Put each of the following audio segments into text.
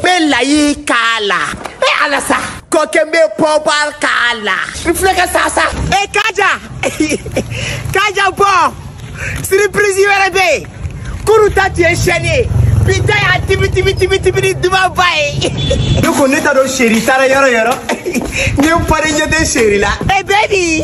bɛ layi k'a la e ala sa kɔkɛ n bɛ pɔbal k'a la n filɛ ka sa sa e kaja kaja bon siripirisi wɛrɛ bɛ yen kunun ta tun ye sɛni ye bi ta y'a tibi tibi tibi tibi ni dumanba ye ne ko ne t'a dɔn chéri taara yɔrɔ yɔrɔ ne pari ɲɛ tɛ chéri la e bɛ di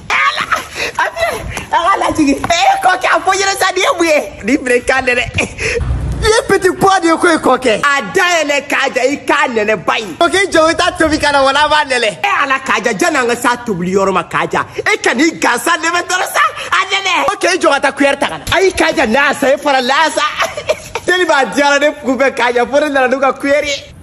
A lajigin ee kɔkɛ a fɔ yɛrɛ sa nin ye mun ye ni bere k'a nɛnɛ nin ye petit pois de ye ko ye kɔkɛ a da yɛlɛ kaja i k'a nɛnɛ ba ye kɔkɛ i jɔ i t'a tobi ka na wala a b'a nɛnɛ e ala kaja janni an ka s'a tobili yɔrɔ ma kaja e ka n'i gansan nɛnɛ dɔrɔn sa a nɛnɛ kɔkɛ i jɔ ka taa kuyɛri ta ka na ayi kaja n'a sa e fara laa sa teli b'a diyara ne kun fɛ kaja fo ne nana n'u ka kuyɛri ye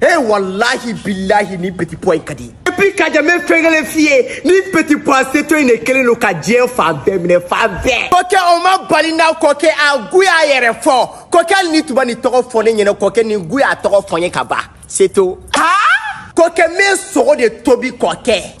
Eh wallahi billahi nin petit pois in ka di et puis kaja n bɛ fɛn kelen f'i ye nin petit pois seto in de kelen don ka diɲɛ fan bɛɛ minɛ fan bɛɛ kɔkɛ o ma bali n na kɔkɛ a goût y'a yɛrɛ fɔ kɔkɛ hali n'i tun ma nin tɔgɔ fɔ ne ɲɛna kɔkɛ nin goût y'a tɔgɔ fɔ n ye ka ban seto kɔkɛ n bɛ sogo de tobi kɔkɛ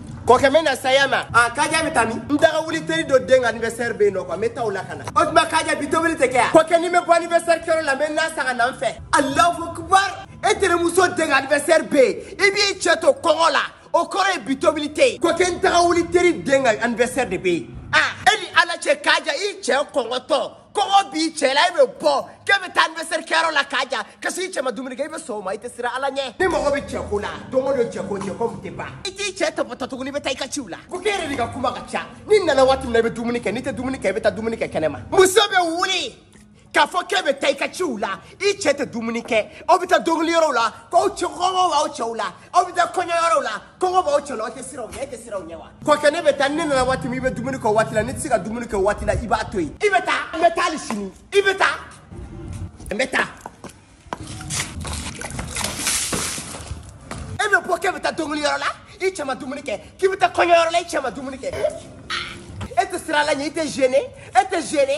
kɔkɛ n bɛ na saya ma a kaja bɛ taa min n daga wuli teri dɔ den ka anniversaire bɛ yen nɔ quoi n bɛ taa o la ka na o tuma kaja bi tobili tɛ kɛ yan kɔkɛ ni n bɛ bɔ anniversaire kɛyɔrɔ la n bɛ n na san ka na n fɛ alahu akubar e terimuso den ka anniversaire bɛ yen i b'i cɛ to kɔngɔ la o kɔrɔ ye bi tobili tɛ yen kɔkɛ n daga wuli teri den ka anniversaire de bɛ yen a e ni ala cɛ kaja i cɛ kɔngɔtɔ kɔngɔ b'i cɛ la e bɛ bɔ k'e bɛ taa anniversaire kɛyɔrɔ la kaja ka s'i cɛ ma dumuni kɛ i bɛ sɔn o ma i tɛ siran ala ɲɛ ni mɔgɔ bɛ cɛko la don o don cɛko cɛko min tɛ ban i t'i cɛ tɔpɔtɔ tuguni i bɛ taa i ka ciw la kɔkɛ e yɛrɛ de ka kuma ka ca ni n nana waati min na i bɛ dumuni kɛ n'i tɛ dumuni kɛ i bɛ taa dumuni kɛ kɛnɛ ma muso bɛ wuli k'a fɔ k'e bɛ taa i ka ciw la i cɛ tɛ dumuni kɛ aw bɛ taa dɔnkili yɔrɔw la k'aw cɛ kɔngɔ b'aw cɛw la aw bɛ taa kɔɲɔyɔrɔw la kɔngɔ b'aw cɛ la aw tɛ siran u ɲɛ e tɛ siran u ɲɛ wa kɔkɛ ne bɛ taa ne nana waati min i bɛ dumuni k'o waati la n'i tɛ se ka dumuni k'o waati la i b'a to yen i bɛ taa n bɛ taa hali sini i bɛ taa n bɛ taa e bɛ bɔ k'e bɛ taa dɔnkiliyɔrɔ la i cɛ ma dumuni kɛ k'i bɛ taa kɔɲɔyɔrɔ la i cɛ ma dumuni kɛ e tɛ siran ala ɲɛ i tɛ gêné e tɛ gêné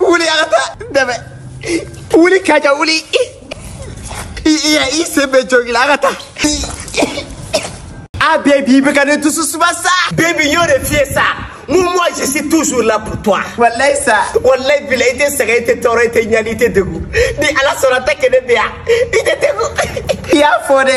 wuli an ka taa dɛmɛ wuli kaja wuli i i i sen bɛ jogila an ka taa a bebi i bɛ ka ne dusu suma sa bebi n y'o de f'i ye sa mun moi je suis toujours là pour toi walayi sa walayi bilayi i tɛ sɛgɛn i tɛ tɔɔrɔ i tɛ ɲani i tɛ degun ni ala sɔnna tant que ne bɛ yan i tɛ degun i y'a fɔ dɛ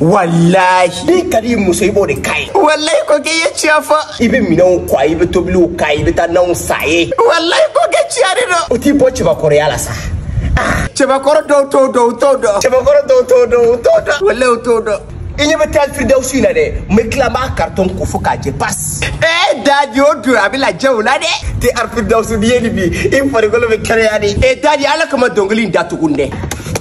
walahi n'i ka di muso i b'o de k'a ye walayi ko k'i ye tiɲɛ fɔ i bɛ minɛnw ko i bɛ tobiliw kɛ i bɛ taa nanw san a ye walayi ko kɛ tiɲɛ de don o t'i bɔ cɛbakɔrɔya la sa cɛbakɔrɔ dɔw t'o dɔn u t'o dɔn cɛbakɔrɔ dɔw t'o dɔn u t'o dɔn walayi u t'o dɔn i ɲɛ bɛ te arifiridawusu in na dɛ n bɛ tila n b'a karitɔn ko fo k'a jɛ pasi ee dadi o dun a bɛ lajɛ o la dɛ te arifiridawusu n'i ye nin min i farikolo bɛ kɛnɛya de ee dadi ala kama dɔnkili in datugu dɛ